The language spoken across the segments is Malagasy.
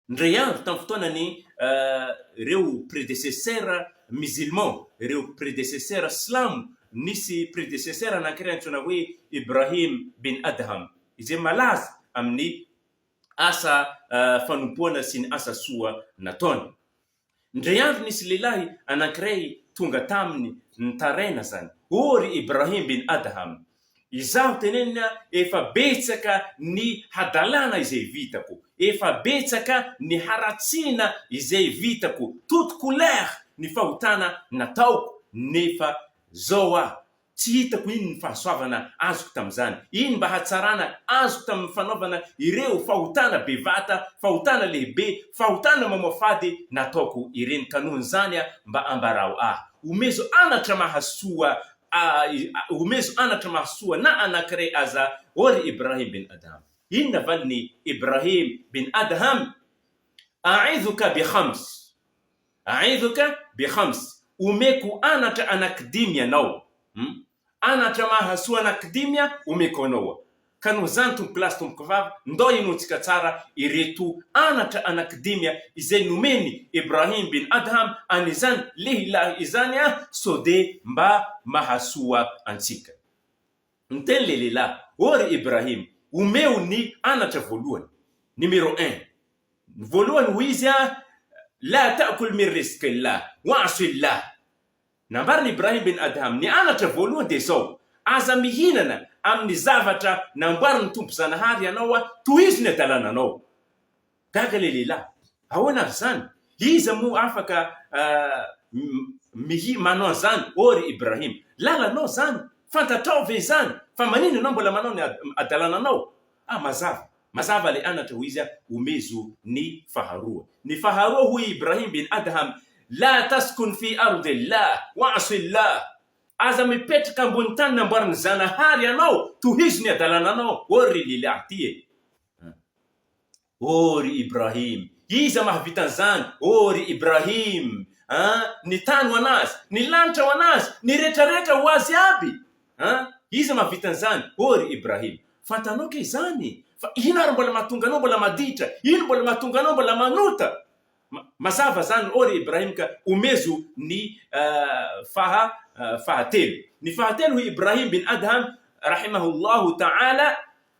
Indray andro tamin'ny fotoanany, ireo predecesseurs musulmans, ireo predecesseurs silamo, nisy predecesseur anankiray antsoina hoe Ibrahim bin Adham, izay malaza amin'ny asa fanompoana sy ny asa soa nataony. Indray andro nisy lehilahy anankiray tonga taminy nitaraina zany, O ry Ibrahim bin Adham! Izaho teneniny an, efa betsaka ny hadalana izay vitako, efa betsaka ny haratsiana izay vitako, toute couleur ny fahotana nataoko, nefa zao aho Tsy hitako inn ny fahasoavana azoko tamin'izany, inn mba hatsarana azoko tamin'ny fanaovana ireo fahotana bevata, fahotana lehibe, fahotana mamoafady nataoko ireny ka noho izany a mba ambarao ahy, omezo anatra mahasoa ahy, omezo anatra mahasoa na anankiray aza ô ry Ibrahim bin Adham. Inona valiny Ibrahim bin Adham? A'idhuka bi khams. Aivoka be Khams, omeko anatra anankidimy ianao hum, anatra mahasoa anankidimy aho omeko anao, ka noho izany tompokolahy sy tompokovavy ndao hinoantsika tsara ireto anatra anankidimy izay nomen'i Ibrahim bin Adham an'izany lehilahy izany sode mba mahasoa antsika. Niteny le lehilahy, O ry Ibrahim, omeo ny anatra voalohany, numéro un, ny voalohany hoy izy a, La ta'kul mir rizqillah, wa'sillah. Nambaran'i Ibrahim bin Adham, ny anatra voalohany dia izao, Aza mihinana amin'ny zavatra namboarin'ny Tompo Zanahary anao, tohizo ny adalananao. Gaga ilay lehilahy. Ahoana avy izany? Iza moa afaka mihi manao an'izany ô ry Ibrahim? Lalanao izany? Fantatrao ve izany? Fa maninona ianao mbola manao ny hadalananao? Ah, mazava, mazava ilay anatra, hoy izy, omezo ny faharoa. Ny faharoa, hoy i Ibrahim bin Adham, La taskun fi ardil lah wa'sil lah, Aza mipetraka ambony tany namboarin'ny Zanahary ianao, tohizo ny hadalananao ô ry lehilahy ity e! Oh ry Ibrahim! Iza mahavita an'izany? Oh ry Ibrahim! An! Ny tany ho an'Azy! Ny lanitra ho an'Azy! Ny retraretra ho Azy aby! An! Iza mahavita an'izany? Oh ry Ibrahim! Fantanao kay izany? Fa ino ary mbola mahatonga anao mbola maditra? Ino mbola mahatonga anao mbola manota? Ma, mazava izany, oh ry Ibrahim, ka omezo ny faha, fahatelo. Ny fahatelo hoy Ibrahim bin Adham, rahimahullahu ta'ala,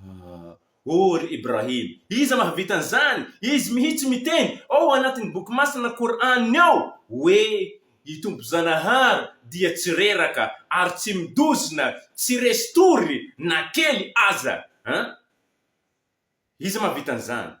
Ah! Oh ry Ibrahim! Iza mahavita an'izany? Izy mihitsy miteny ao anatin'ny Boky Masina Kor'any ao hoe, I Tompo Zanahary dia tsy reraka ary tsy midozona, tsy resy tory na kely aza! An! Iza mahavita an'izany?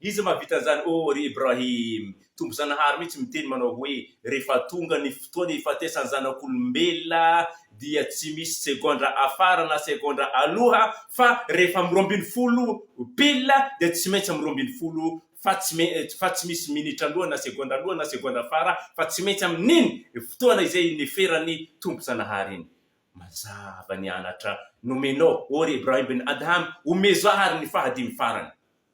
Iza mahavita an'izany ô ry Ibrahim? Tompo Zanahary mihitsy miteny manao hoe, rehefa tonga ny fotoan'ny hifatesan'ny zanak'olombelona dia tsy misy segondra afara na segondra aloha fa rehefa amin'ny roa ambin'ny folo pile dia tsy maintsy amin'ny roa ambin'ny folo fa tsy fa tsy misy minitra aloha na segondra aloha na segondra afara fa tsy maintsy amin'iny fotoana izay niferan'ny Tompo Zanahary iny. Mazava ny anatra nomenao ô ry Ibrahim bin Adham, omezo ahy ary ny fahadimy farany.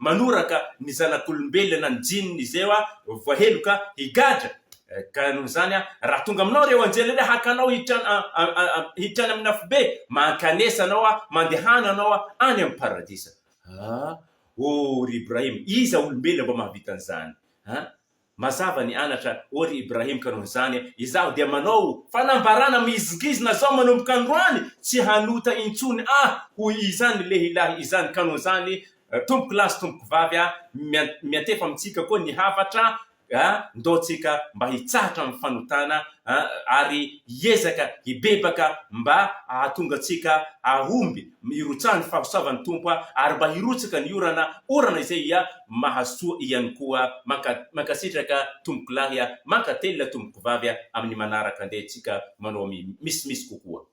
Manoraka ny zanak'olombelona ny jininy izay hoa voaheloka higadra. Ka noho izany, raha tonga aminao ireo anjely ireo, haka anao hiditra any amin'ny afobe, mankanesa anao, mandehana anao any amin'ny paradisa. Ah! Oh, ry Ibrahim, iza olombelona mba mahavita an'izany? Ah! Mazava ny anatra ô ry Ibrahim ka noho izany izaho dia manao fanambarana mihizingizina zao manomboka androany tsy hanota intsony ah hoy izany lehilahy izany ka noho izany tompoko lahy sy tompoko vavy ah miantefa amintsika koa ny havatra ah ndao tsika mba hitsahatra amin'ny fanotana ah ary hiezaka hibebaka mba ahatonga tsika ahomby hirotsahany fahasoavan'ny Tompo ah ary mba hirotsaka ny orana orana izay ia mahasoa ihany koa manka mankasitraka tompokolahy a mankatelina tompokovavy a amin'ny manaraka andeha tsika manao mi misimisy kokoa.